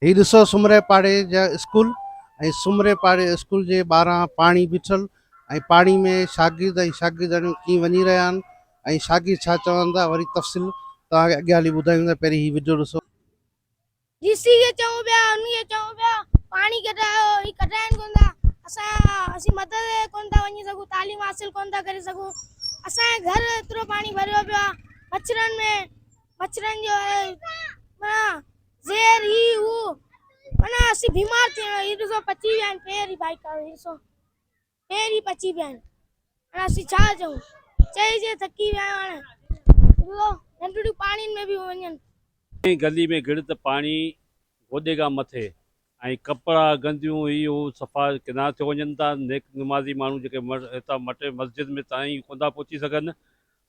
هي ڏسو سومري پاڙي جا اسڪول ۽ سومري پاڙي اسڪول جي ٻاهران پاڻي بيٺل ۽ پاڻي ۾ شاگرد ۽ شاگردياڻيون ڪيئن وڃي رهيا آهن ۽ شاگرد ڇا چون ٿا وري تفصيل توهان کي اڳيان هلي ٻڌايون ٿا پهرين هي وڊيو ڏسو. جي سي کي چئون پيا انهي کي چئون پيا پاڻي ڪڍرايو هي ڪڍرائن ڪون ٿا اسان اسين مدرسي تي ڪون ٿا وڃي سگهون تعليم حاصل ڪون ٿا ڪري سگهون اسان جي گهر ايترو پاڻي ڀريو پيو آهي مڇرن ۾ مڇرن جو معنيٰ زهر هي هو معنيٰ اسين بيمار ٿي ويا هي ڏسو پچي ويا آهن پير هي بائڪ هي ڏسو پير هي پچي ويا آهن معنيٰ اسين ڇا چئون چئي چئي ٿڪي ويا آهيون هاڻي ڏسو ننڍڙيون پاڻين ۾ به وڃن ۽ گلي ۾ گڙ ته پاڻي گوڏي کان مٿي ۽ ڪپڙا، گنديون، هي هو صفا ڪنا ٿيو وڃن ٿا. نيڪ نمازي ماڻهو جيڪي هتان مٽي مسجد ۾ تائين ئي ڪونٿا پهچي سگهن.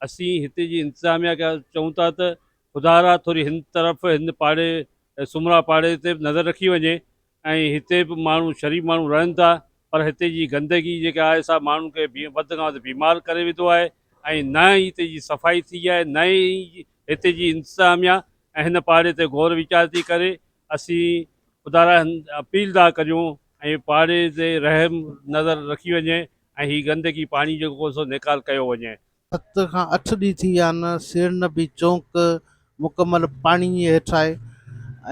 اسين هتي جي انتظاميا کي چئون ٿا ته خدارا ٿوري هن طرف هن پاڙي سومرا پاڙي تي به نظر رکي وڃي ۽ هتي به ماڻهو شريف ماڻهو رهن ٿا پر هتي جي گندگي جيڪا آهي سا ماڻهن کي وڌ کان وڌ بيمار ڪري وڌو آهي ۽ نه ئي هتي جي صفائي ٿي آهي نه ئي هتي جي انتظاميا ۽ هن پاڙي تي غور ويچار ٿي ڪري اسين خدارا اپيل ٿا ڪريون ۽ پاڙي تي رحم نظر رکي وڃي ۽ هي گندگي پاڻي جو ڪو سو نيڪال ڪيو وڃي. ست کان اٺ ڏينهن ٿي ويا آهن سير نبي چونڪ مڪمل پاڻي جي هيٺ آهي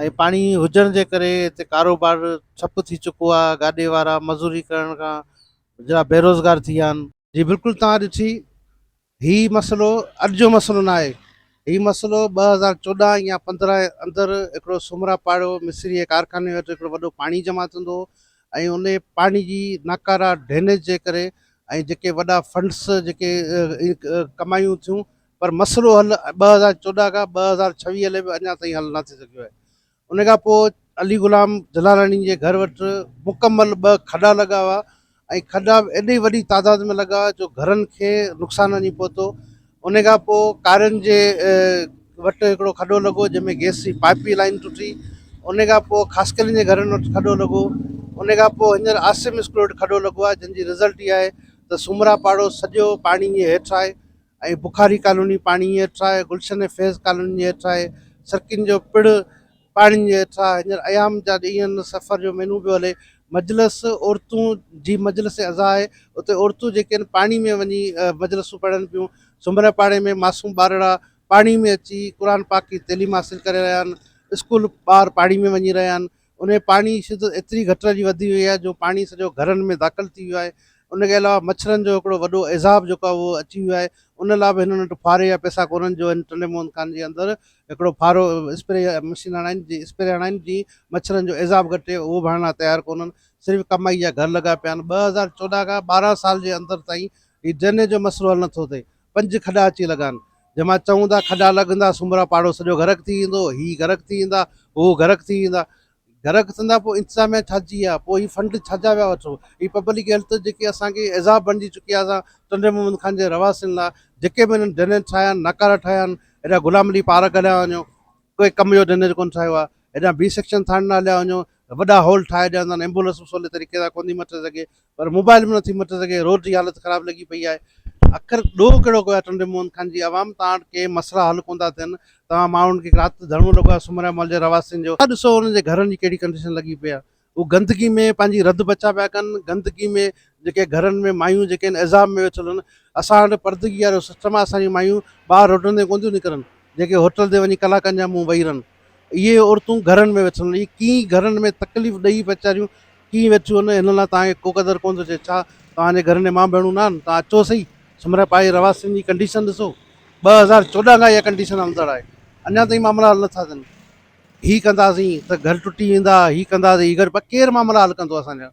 ۽ پاڻي هجڻ جي ڪري هتي ڪاروبار ٺپ ٿي چڪو آهي گاڏي وارا مزوري ڪرڻ کان ويجھڙا بيروزگار ٿي ويا آهن. جي بلڪل توهان ڏٺي هي مسئلو اڄ جو مسئلو نه آهي هي مسئلو ٻه هزار چوڏهن يا پندرهن جي اندر هڪڙو سومرا پاڙو مصري جي ڪارخاني وٽ هڪڙو وڏو پاڻي جمع ٿيندو هو ۽ ان پاڻي جي ناڪارا ڊرينيج جي ڪري ۽ جيڪي وڏا فنڊس جيڪي ڪمايون ٿيون پر مسئلو حل ٻه هزار چوڏهن کان ٻه هزار ڇويهه لي به اڃا تائين حل نه ٿي سگهيو آهي ان کان پوء علي غلام جلالاڻي جي گهر وٽ مڪمل ٻه کڏا لڳا هئا ۽ کڏا به ايڏي وڏي تعداد ۾ لڳا جو گهرن کي نقصان وڃي پهتو. ان کان پوء ڪارين جي وٽ هڪڙو کڏو لڳو جنهن ۾ گئس جي پائيپ جي لائين ٽٽي. ان کان پوء خاصخيلين جي گهرن وٽ کڏو لڳو. ان کان پوء هينئر عاصم اسڪول وٽ کڏو لڳو آهي جنهن جي رزلٽ اها آهي ته سومرا پاڙو سڄو پاڻي جي هيٺ آهي. ۽ بخاري ڪالوني پاڻي جي هيٺ آهي، گلشن ۽ فيض ڪالوني جي هيٺ آهي، سرڪين جو پڙ پاڻي جي هيٺ آهي، هينئر ايام جا ڏينهن سفر جو مينون پيو هلي، مجلس عورتون جي مجلس عزا آهي، اتي عورتون جيڪي آهن پاڻي ۾ وڃي مجلسون پڙهن پيون، سنڀرئي پاڙي ۾ معصوم ٻارڙا پاڻي ۾ اچي قرآن پاڪ جي تعليم حاصل ڪري رهيا آهن، اسڪول ٻار پاڻي ۾ وڃي رهيا آهن، ان ۾ پاڻي جي شدت ايتري گهٽ جي وڌي وئي آهي جو پاڻي سڄو گهرن ۾ داخل ٿي ويو آهي ان کي علاوه مڇرن جو هڪڙو وڏو عذاب جيڪو آهي اهو اچي ويو آهي ان لاء به هنن وٽ ڦاري جا پئسا ڪونهن جو هن ٽنڊي موهن خان جي اندر هڪڙو ڦارو اسپري مشين هڻائين جي اسپري هڻائين جي مڇرن جو عذاب گهٽي اهو به هڻڻ لاء تيار ڪونهن صرف ڪمائي جا گهر لڳا پيا آهن ٻه هزار چوڏهن کان ٻارهن سال جي اندر تائين هي ڊرينيج جو مسئلو حل نٿو ٿئي پنج کڏا اچي لڳان، جنهن مان چئون ٿا کڏا لڳندا، سومرا پاڙو سڄو غرق ٿي ويندو، هي غرق ٿي ويندا، هو غرق ٿي ويندا. غرق ٿيندا پوء انتظاميا ڇا جي آ، پوء هي فنڊ ڇا جا ويا وٺو. هي پبلڪ هيلٿ جيڪي اسان کي عذاب بڻجي چڪي آ اسان ٽنڊي محمد خان جي رهواسين لا جيڪي به هنن ڊرينيج ٺاهيا آهن، ناڪارا ٺاهيا آهن، هيڏا غلام علي پارڪ هليا وڃو، ڪوئي ڪم جو ڊنر ڪون ٺاهيو آ هيڏانهن بي سيڪشن ٿاڻي نه هليا وڃو وڏا هول ٺاهي ڏين ٿا ايمبولنس به سولي طريقي سان ڪونٿي مٽي سگهي پر موبائل به نٿي مٽي سگهي روڊ جي حالت خراب لڳي پئي آهي اکر ڏوهه ڪهڙو ڪيو آهي ٽنڊي موهن خان جي عوام توهان وٽ ڪي مسئلا حل ڪون ٿا ٿين توهان ماڻهن کي رات ڌرڻو لڳو آهي سومريا محل جي رهواسين جو ڏسو انهن جي گهرن جي ڪهڙي ڪنڊيشن لڳي پئي آهي هو گندگي ۾ پنهنجي رڌ بچا پيا ڪن گندگي ۾ جيڪي گهرن ۾ مايون جيڪي ان عذاب ۾ ويٺل هن اسان وٽ پردگي وارو سسٽم آهي اسانجي مايون ٻاهر روڊن تي ڪون ٿيون نڪرن جيڪي هوٽل تي وڃي ڪلاڪن جا منهن وئي رهن اهي عورتون گهرن ۾ ويٺل اهي ڪي گهرن ۾ تڪليف ڏئي ويچاريون ڪي ويٺيون هن هن لاء تاکي ڪو قدر ڪون ٿو چي ڇا تاجي گهرن جي ماء ڀيڻون نه آهن تان اچو سهي سمرا پائي رواسين جي ڪنڊيشن ڏسو ٻه هزار چوڏهن کان اها ڪنڊيشن هلندڙ آهي اڃا تائين معاملا حل نٿا ٿين هي ڪنداسين ته گهر ٽٽي ويندا، هي ڪندا ته هي گهر پ ڪير معاملا حل ڪندو اسان جا؟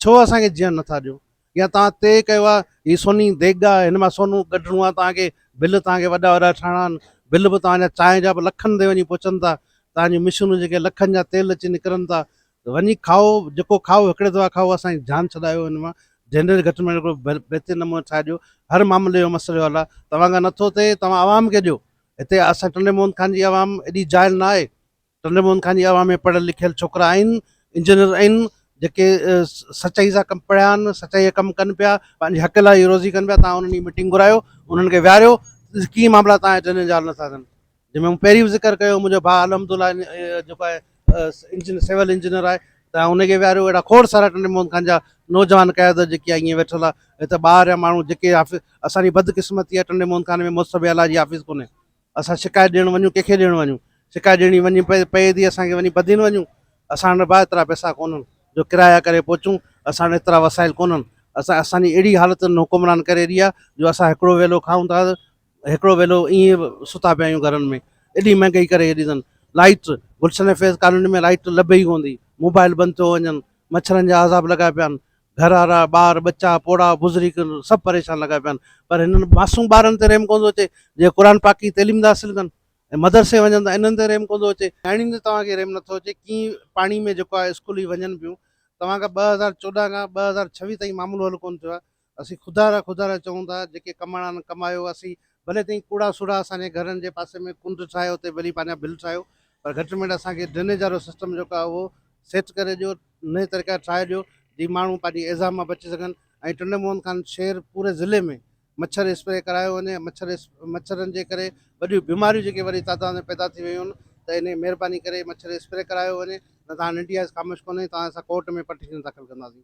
ڇو اسان کي جيئڻ نٿا ڏيو؟ يا توهان طئي ڪيو آ هي سوني ديڳ آ هن مان سونو ڪڍڻو آ توهان کي بل توهان کي وڏا وڏا ٺاهڻا آهن بل به توهان جا چانهه جا به لکن تي وڃي پهچن ٿا توهان جون مشينون جيڪي لکن جا تيل اچي نڪرن ٿا وڃي کائو جيڪو کائو هڪڙي دفعا کائو اسان جي جان ڇڏايو هن مان جنريٽر گهٽ ۾ گهٽ بهترين نموني ٺاهي ڏيو هر معاملي جو مسئلو حل آ توهان کان نٿو ٿئي توهان عوام کي ڏيو هتي آسان ٽنڊي موهن خان جي عوام ايڏي جاهل نه آهي. ٽنڊي موهن خان جي عوام ۾ پڙهيل لکيل ڇوڪرا آهن، انجنيئر آهن، جيڪي سچائي سان ڪم پڙهيا آهن، سچائي جا ڪم ڪن پيا، پنهنجي حق لاء هي روزي ڪن پيا، توهان انهن جي ميٽنگ گهرايو، انهن کي ويهاريو، ڪي معاملا توهان جي ذهن ۾ جاڙ نٿا ٿين. جنهن ۾ مون پهرين به ذڪر ڪيو هو، منهنجو ڀاء الحمدالله جيڪو آهي انجن سول انجنيئر آهي ته ان کي ويهاريو اهڙا کوڙ سارا ٽنڊي محمد خان جا نوجوان قيادت جيڪي آهي ائين ويٺل آهي هي ته ٻاهر جا ماڻهو جيڪي اسان جي بدقسمتي آهي ٽنڊي محمد خان ۾ محتسب اعليٰ جي آفيس ڪونهي اسان شڪايت ڏيڻ وڃون ڪنهن کي ڏيڻ وڃون شڪايت ڏيڻي وڃي پئي پئي ٿي اسان کي وڃي بدين وڃون اسان وٽ ڀاء ايترا پئسا ڪونهن جو ڪرايا ڪري پهچون اسان وٽ ايترا وسائل ڪونهن اسان اسان جي اهڙي حالت حڪمران ڪري ڏي آهي جو اسان هڪڙو ويلو کائون ٿا هڪڙو ويلو ائين به ستا پيا آهيون گهرن ۾ ايڏي مهنگائي ڪري هيڏي اٿن light Gulshan Faiz colony ۾ light لڀي ئي ڪون ٿي موبائل بند ٿيو وڃن مڇرن جا عذاب لڳا پيا آهن گهر وارا ٻار ٻچا پوڙها بزرگ سڀ پريشان لڳا پيا آهن پر هنن معصوم ٻارن تي رحم ڪون ٿو اچي جي قرآن پاڪ جي تعليم ٿا حاصل ڪن ۽ مدرسي وڃن ٿا انهن تي رحم ڪون ٿو اچي نياڻين تي توهان کي رحم نٿو اچي ڪي پاڻي ۾ جيڪو آهي اسڪول ئي وڃن پيون توهان کان ٻه هزار چوڏهن کان ٻه هزار ڇويھ تائين معاملو حل ڪون ٿيو آهي اسين خدا را خدا را چئون ٿا، جيڪي ڪماڻا نه ڪمايو اسين، ڀلي تئين ڪوڙا سوڙها اسان جي گهرن جي پاسي ۾ ڪنڊ ٺاهيو اتي ڀلي پنهنجا بل ٺاهيو پر گهٽ ميٽ اسان کي ڊرينيج وارو سسٽم جيڪو آهي اهو سيٽ ڪري ڏيو نئين طريقا ٺاهي ڏيو جي ماڻهو پنهنجي ايذاب مان بچي سگهن ۽ ٽنڊي موهن خان شهر پوري ضلعي ۾ مڇر اسپري ڪرايو وڃي مڇر مڇرن جي ڪري وڏيون بيماريون جيڪي وڏي تعداد ۾ پيدا ٿي ويون آهن ته انهي مهرباني ڪري مڇر اسپري ڪرايو وڃي نه ته هاڻ انڊيا از خاموش ڪونهي توهان اسان ڪورٽ ۾ پٽيشن داخل ڪنداسين.